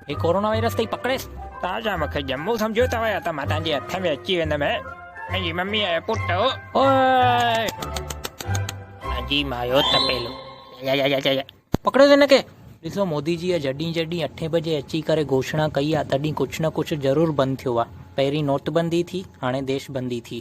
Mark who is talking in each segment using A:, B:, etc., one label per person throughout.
A: هي corona virus تي پڪڙيس تازا مکي جمو سمجھو تا ويا تا ما تان جي اٿ ۾ اچي ويندم هي ۽ جي ممي آيا پٽ او اوئي جي مايو تپيلو يا يا يا يا پڪڙيس هن کي ڏسو مودي جي جڏهن جڏهن اٺين بجي اچي ڪري گهوشنا ڪئي آ تڏهن ڪجھ نه ڪجھ ضرور بند ٿيو آ پهرين نوٽ بندي ٿي هاڻي ديش بندي ٿي.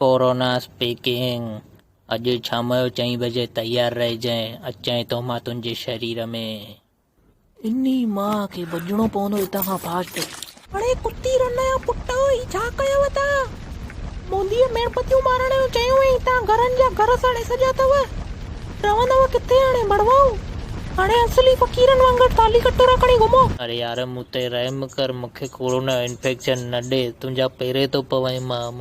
A: ڪورونا اسپيڪنگ، اڄ شام جو چئين بجي تيار رهجانء، اچانء ٿو مان تنهنجي شرير ۾. انهي مان کي ڀڄڻو پوندو هتان کان فاسٽ. اڙي ڪتي رن جا پٽ هي ڇا ڪيو اٿا موديء ميڻ پتيون مارڻ جو چيو هئين تان گهرن جا گهر ساڙي سڄا اٿو رهندو ڪٿي هاڻي ڀڙوائون هاڻي اصلي فقيرن وانگر ٿالهي ڪٽورا کڻي گهمو. اڙي يار مون تي رحم ڪر مون کي ڪورونا انفيڪشن نه ڏي تنهنجا پيري ٿو پوان مان.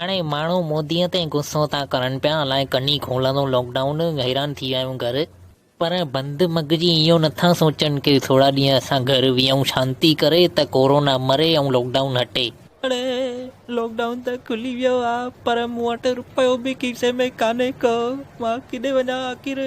A: هاڻي ماڻهو مودي تي غصو ٿا ڪرن پيا الائي ڪڏهن کولندو لاڪ ڊائون حيران ٿي ويا آهيون گهر. پر بند مغزي اهو نٿا سوچن ڪي ٿورا ڏينهن اسان گهر ويهون شانتي ڪري ته ڪورونا مري ۽ لاڪ ڊائون هٽي. هاڻي لاڪ ڊائون ته کلي ويو آ پر مون وٽ رپيو به کيسي ۾ ڪانهي ڪو مان ڪيڏي وڃان آخر.